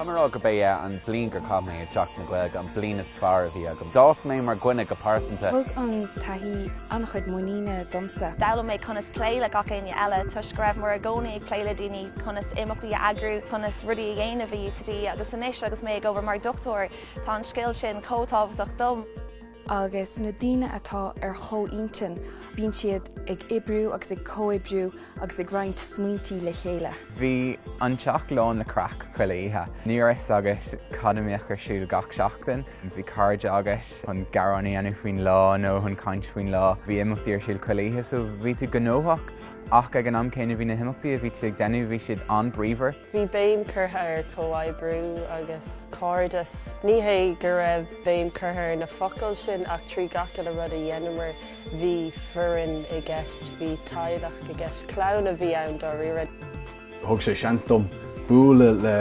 Táim ag rá go b'é an bhliain gur chaith mé i dTeach na Gaeilge an bliain is fearr a bhí agam. D'fhás mé mar dhuine go pearsanta. Thug an taithí an-chuid muiníne domsa. D'fhoghlaim mé conas plé le gach éinne eile toisc go raibh mé i gcónaí ag plé le daoine, conas imeachtaí a eagrú, conas rudaí a dhéanamh i UCD agus anois agus mé ag obair mar dhochtúir, Tá an scéal sin chomh tábhachtach dom. Agus na daoine atá ar chomhintinn, bíonn siad ag oibriú agus ag comhoibriú agus ag roinnt smaointí le chéile. Bhí an teach lán le craic chuile oíche. Ní raibh a fhios agat cad a mbeadh ar siúl gach seachtain. Bhí cairde agat chun gearán a dhéanamh faoin lá nó chun caint faoin lá. Bhí imeachtaí ar siúl chuile oíche so bhí tú gnóthach ach ag an am céanna bhí na himeachtaí a bhí tú ag déanamh, bhí siad an-bríomhar. Bhí béim curtha ar chomhoibriú agus cairdeas. Ní hé go raibh béim curtha ar na focail sin ach trí gach uile rud a dheineamar bhí foireann i gceist, bhí teaghlach i gceist, clann a bhí ann dáiríre. Thug sé seans dom bualadh le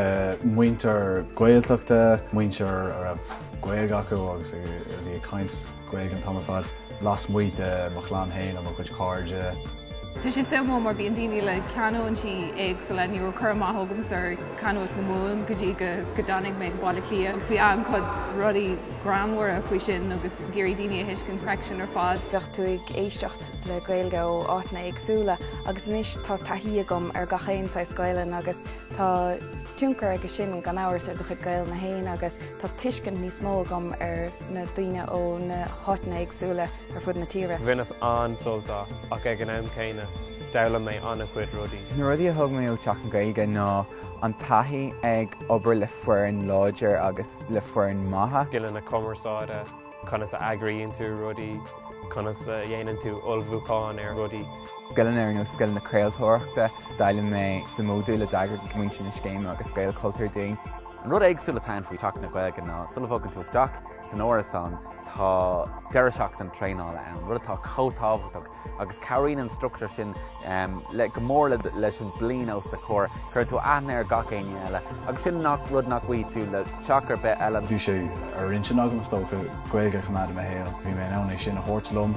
muintir Gaeltachta, muintir a raibh Gaeilge acu agus a bhí ag caint. Gaeilge an t-am ar fad, lasmuigh de mo chlann féin agus mo chuid cairde. Tá sé suimiúil mar bíonn daoine le canúintí éagsúla, ní raibh cur amach agamsa ar canúint na Mumhan go dtí go dtáinig mé go Baile Átha Cliath agus bhí an-chuid rudaí greannmhara faoi sin agus ag iarraidh daoine a thuiscint freisin ar fad. Bheadh tú ag éisteacht le Gaeilge ó áiteanna éagsúla agus anois tá taithí agam ar gach aon saghas Gaelainn agus tá tionchar aige sin gan amhras ar do chuid Gaelainne féin agus tá tuiscint níos mó agam ar na daoine ó na háiteanna éagsúla ar fud na tíre. Bhaineas an-sult as, ach ag an am céanna, d'fhoghlaim mé an-chuid rudaí. Na rudaí a thug mé ó Teach na Gaeilge ná an taithí ag obair le foireann láidir agus le foireann maith. scileanna cumarsáide, conas a eagraíonn tú rudaí, conas a dhéanann tú ullmhúchán ar rudaí. scileanna ar nós scileanna craoltóireachta. D'fhoghlaim mé sa módúl a d'eagraigh muintir na scéime agus Gaelchultúr dúinn. An rud éagsúil atá ann faoi Theach na Gaeilge ná sula mbogann tú isteach san árasán tá deireadh seachtaine traenála ann, rud atá chomh tábhachtach agus cabhraíonn an struchtúr sin go mór leis an bhliain os do chomhair, cuireann tú aithne ar gach éinne eile agus sin rud nach bhfaighidh tú le teach ar bith eile. Bhí sé ar intinn agam, is dócha, Gaeilge a choimeád i mo shaol, bhí mé in ann é sin a thabhairt liom.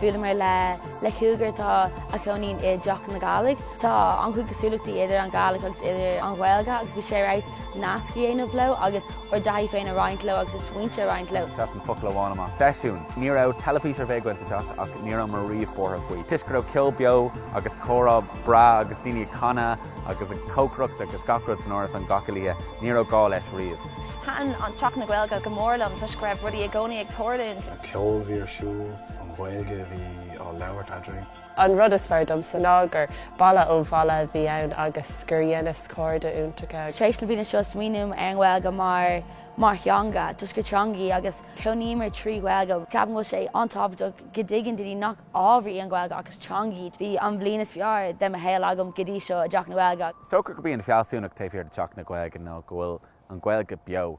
Bhuaileamar le le cúigear atá ina gcónaí i dTeach na Gàidhlig. Tá an-chuid cosúlachtaí idir an Ghàidhlig agus idir an Ghaeilge agus bhí sé ar fheabhas nasc a dhéanamh leo agus ár dtaithí féin a roinnt leo agus a smaointe a roinnt leo. Seasann focal amháin amach. Seisiún. Ní raibh teilifís ar bith againn sa teach ach ní rabhamar riamh buartha faoi toisc go raibh ceol beo agus comhrá breá agus daoine ag canadh agus ag cócaireacht agus gach rud san áras gach uile lá, ní raibh gá leis riamh. Thaitin Teach na Gaeilge go mór liom toisc go raibh rudaí i gcónaí ag tarlúint. ceol a bhí ar siúl, an Ghaeilge a bhí á labhairt eadrainn. An rud is fearr domsa ná gur baile ó bhaile a bhí ann agus gur dheineas cairde iontacha. Tar éis na bliana seo smaoiním ar an Ghaeilge mar mar theanga, toisc gur teanga í agus cónaíomar trí Ghaeilge. Ceapaim go bhfuil sé an-tábhachtach go dtuigeann daoine nach ábhar í an Ghaeilge ach is teanga í. Bhí an bhliain is fearr de mo shaol agam go dtí seo i dTeach na Gaeilge. Is dócha gurb í an fealsúnacht taobh thiar de Teach na Gaeilge ná go bhfuil an Ghaeilge beo.